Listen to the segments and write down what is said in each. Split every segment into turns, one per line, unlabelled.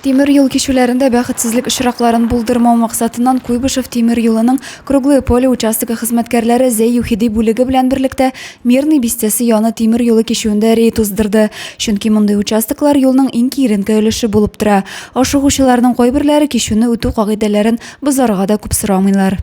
Тимер юл кичүләрендә бәхетсезлек очракларын булдырмау максатыннан Куйбышев тимер юлының Круглое поле участогы хезмәткәрләре Зәй-Юхиди бүлеге белән берлектә Мирный бистәсе яны тимер юлы кичүендә рейд уздырды, чөнки мондый участоклар юлның иң киеренке өлеше булып тора. Ашыгучыларның кайберләре кичүне үтү кагыйдәләрен бозарга да күп сорамыйлар.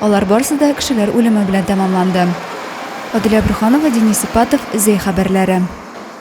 Алар барсы да кешеләр үлеме белән тәмамланды. Аделя Борһанова, Денис Ипатов, Зәй хәбәрләре.